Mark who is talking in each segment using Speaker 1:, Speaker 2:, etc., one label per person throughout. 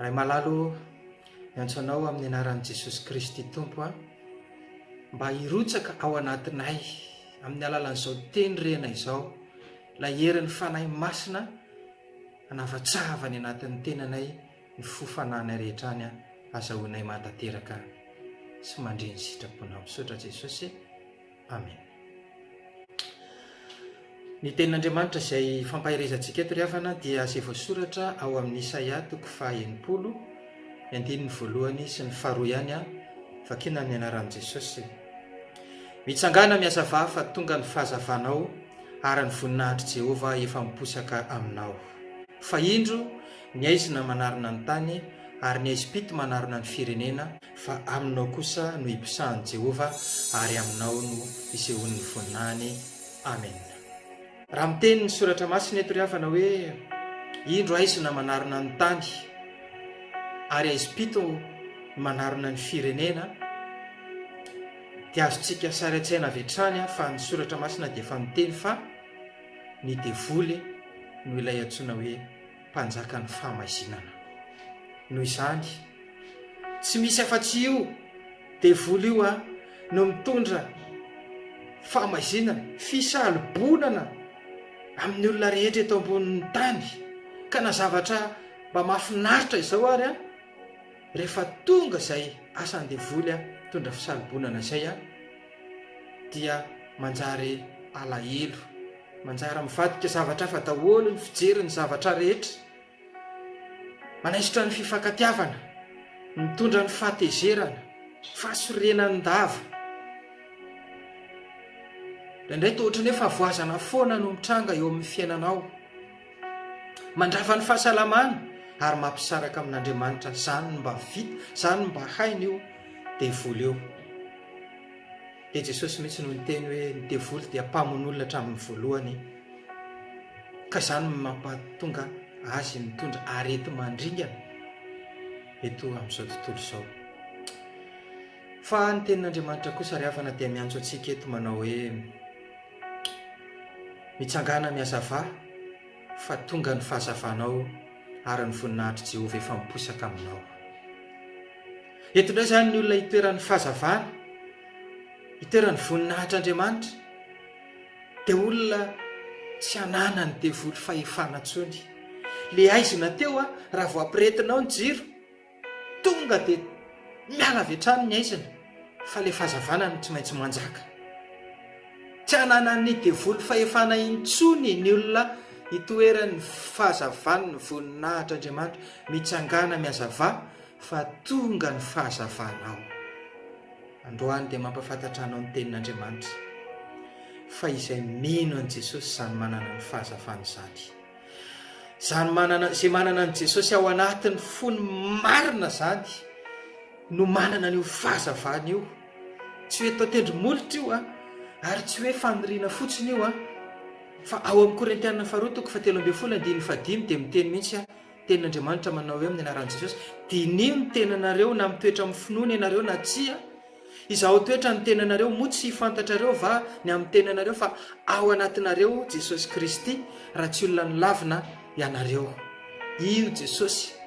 Speaker 1: Ray malalo ô, miantso Anao amin'ny anaran'i Jesosy Kristy Tompo aho, mba hirotsaka ao anatinay amin'ny alalan'izao teny rena izao, ilay herin'ny Fanahy Masina hanavatsava any anatin'ny tenanay ny fo fananay rehetra any, azahoanay mahatanteraka sy mandre ny sitraponao. Misaotra Jesosy. Amen. Ny tenin'Andriamanitra izay fampaherezantsika eto ry havana dia izay voasoratra ao amin'ny Isaia toko faha enimpolo ny andininy voalohany sy ny faharoa ihany an, vakina amin'ny anaran'i Jesosy. Mitsangana mihazava fa tonga ny fahazavanao ary ny voninahitr'i Jehovah efa miposaka aminao. Fa indro ny aizina manarona ny tany ary ny aizim-pito manarona ny firenena. fa aminao kosa no iposahan'i Jehovah ary aminao no isehoan'ny voninahiny. Amena. Raha miteny ny Soratra Masina eto ry havana hoe, Indro haizo na manarona ny tany, ary haizo pito manarona ny firenena, dia azontsika sary an-tsaina avy hatrany fa ny Soratra Masina dia efa miteny fa ny devoly no ilay antsoina hoe Mpanjakan'ny Famaizinana. Noho izany, tsy misy afa-tsy io devoly io no mitondra famaizinana, fisalobonana amin'ny olona rehetra eto ambonin'ny tany. Ka na zavatra mba mahafinaritra izao ary, rehefa tonga izay asan'ny devoly mitondra fisalobonana izay dia manjary alahelo. Manjary mivadika zavatra hafa daholo ny fijery ny zavatra rehetra. Manaisotra ny fifankatiavana, mitondra ny fahatezerana, fahasorenan-dava. Indraindray toa ohatran'ny hoe fahavoazana foana no mitranga eo amin'ny fiainanao. Mandrava ny fahasalamana ary mampisaraka amin'Andriamanitra. Izany mba vita, izany mba hainy io devoly io. dia Jesosy mihitsy no niteny hoe ny devoly dia mpamono olona hatramin'ny voalohany ka izany no mampatonga azy mitondra areti-mandringana eto amin'izao tontolo izao fa ny tenin'Andriamanitra kosa ry havana dia miantso antsika eto manao hoe mitsangana ny hazava fa tonga ny fahazavanao ary ny voninahitr'i Jehovah efa miposaka aminao Eto indray izany ny olona hitoeran'ny fahazavana, hitoeran'ny voninahitr'Andriamanitra, dia olona tsy ananan'ny devoly fahefana intsony. Le aizina teo a, raha vao ampiretina ao ny jiro, tonga dia miala avy hatrany ny aizina, fa le fahazavana no tsy maintsy manjaka. Tsy ananan'ny devoly fahefana intsony ny olona hitoeran'ny fahazavan'ny voninahitr'Andriamanitra, mitsangana mihazava, Fa tonga ny fahazavanao. Androany dia mampafantatra anao ny tenin'Andriamanitra, fa izay mino an'i Jesosy izany manana ny fahazavana izany. Izany manana, izay manana an'i Jesosy ao anatin'ny fony marina izany, no manana an'io fahazavana io. Tsy hoe tao tendromolotra io an, ary tsy hoe faniriana fotsiny io an, fa ao amin'ny Korintiana faharoa toko fahatelo ambin'ny folo andininy fahadimy dia miteny mihitsy an, Tenin'Andriamanitra manao hoe amin'ny anaran'i Jesosy, Diniho ny tenanareo na mitoetra amin'ny finoana ianareo na tsia. Izaho toetra ny tenanareo, moa tsy hifantatrareo va ny amin'ny tenanareo fa ao anatinareo Jesosy Kristy, raha tsy olona nilavina ianareo. Io Jesosy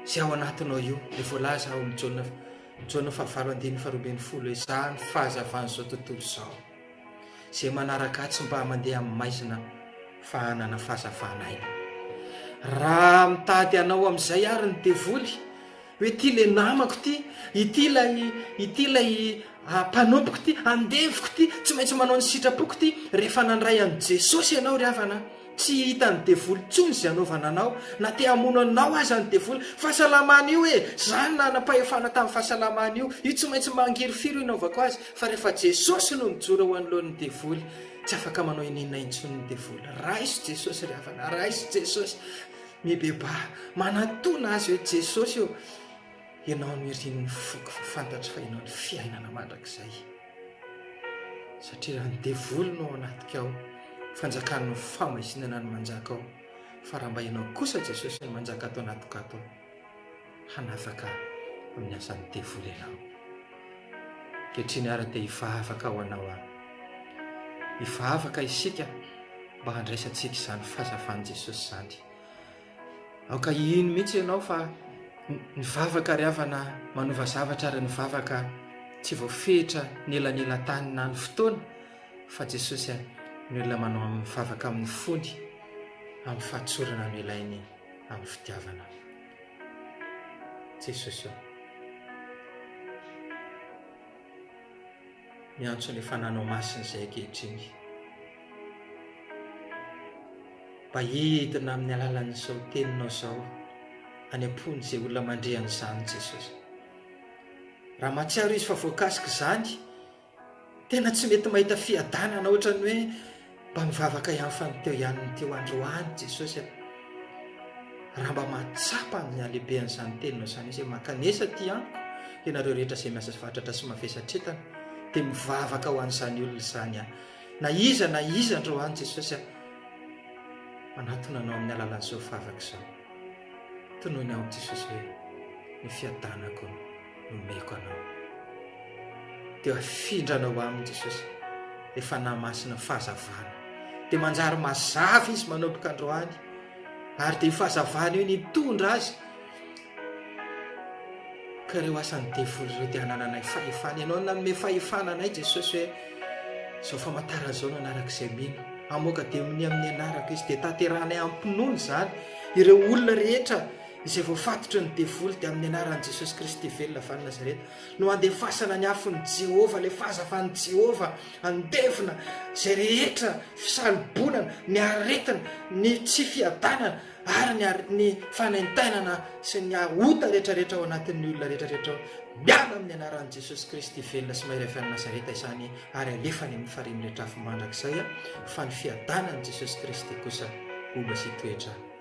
Speaker 1: izay ao anatinao io, dia voalaza ao amin'ny Jaona Jaona fahavalo andininy faharoa ambin'ny folo hoe izaho ny fahazavan'izao tontolo izao. Zay manaraka atsy mba mandeha amin'ny maizina fa hanana fahazavana aina. Raha mitady anao amin'izay ary ny devoly, hoe ity le namako ity, ity ilay ity ilay ah, mpanompoko ity, andevoko ity, tsy maintsy manao ny sitrapoko ity, rehefa nandray an'i Jesosy ianao ry havana, Tsy hitan'ny devoly intsony izay hanaovana anao, na te hamono anao aza ny devoly. Fahasalamana io e! Zany nanam-pahefana tamin'ny fahasalamana io. Io tsy maintsy mangirifiry io hanaovako azy. Fa rehefa Jesosy no mijoro eo anoloan'ny devoly, tsy afaka manao inona intsony ny devoly. Raiso Jesosy ry havana, raiso Jesosy. Mibebaha, manatona azy hoe Jesosy ô, ianao no irin'ny foko, fa fantatro fa ianao no fiainana mandrakizay. Satria raha ny devoly no ao anatika ao, fanjakan'ny fahamaizina no manjaka ao, fa raha mba ianao kosa Jesosy no manjaka ato anatiko ato, hanafaka amin'ny asan'ny devoly ianao. Kehitriny ary dia hivavaka ho anao aho. Hivavaka isika mba handraisantsika izany fazavan'i Jesosy izany. Aoka hihino mihitsy ianao fa ny vavaka ry havana manova zavatra ary ny vavaka tsy voafehitra ny elanelan-tany na ny fotoana fa Jesosy a, ny olona manao amin'ny vavaka amin'ny fony, amin'ny fahatsorana no ilainy amin'ny fitiavana. Jesosy o. miantso ny fananao masina izay ankehitriny. Mba hidina amin'ny alalan'izao teninao izao any am-pon'izay olona mandre an'izany Jesosy. Raha mahatsiaro izy fa voakasik'izany, tena tsy mety mahita fiadanana ohatran'ny hoe Mba nivavaka ihany fa ny teo ihany ny teo androany Jesosy a! Raha mba mahatsapa ny halehibehan'izany teninao izany izy hoe mankanesa aty amiko ianareo rehetra izay miasa fatratra sy mavesatretana dia mivavaka ho an'izany olona izany aho. Na iza na iza androany Jesosy a! Manatona anao amin'ny alalan'izao vavaka izao. Tonoina amiko Jesosy hoe ny fiadanako. nomeko anao. Dia afindrana ho aminy Jesosy ny Fanahy Masina ny fahazavana. Dia manjary mazava izy manomboka androany. Ary dia fahazavana io nitondra azy ka ireo asan'ny devoly ireo dia hanananay fahefana. Ianao nanome fahefana anay Jesosy hoe izao famantarana izao no anarak'izay mino. Amoaka demonia amin'ny anarako izy dia tanterahanay am-pinoana izany ireo olona rehetra izay voafatotry ny devoly dia amin'ny anaran'i Jesosy Kristy velona avy any Nazareta no handefasana ny afon'i Jehovah, alefaza fa an'i Jehovah, andevona izay rehetra fisalobonana, ny aretina, ny tsy fiadanana ary ny, are, ny fanaintainana sy ny ota rehetrarehetra ao anatin'ny olona rehetrarehetra ao. Miala amin'ny anaran'i Jesosy Kristy velona sy mahery avy any Nazareta izany ary alefa any amin'ny farihin'ny rehetra afo mandrakizay fa ny fiadanan'i Jesosy Kristy kosa ho mba sy toetra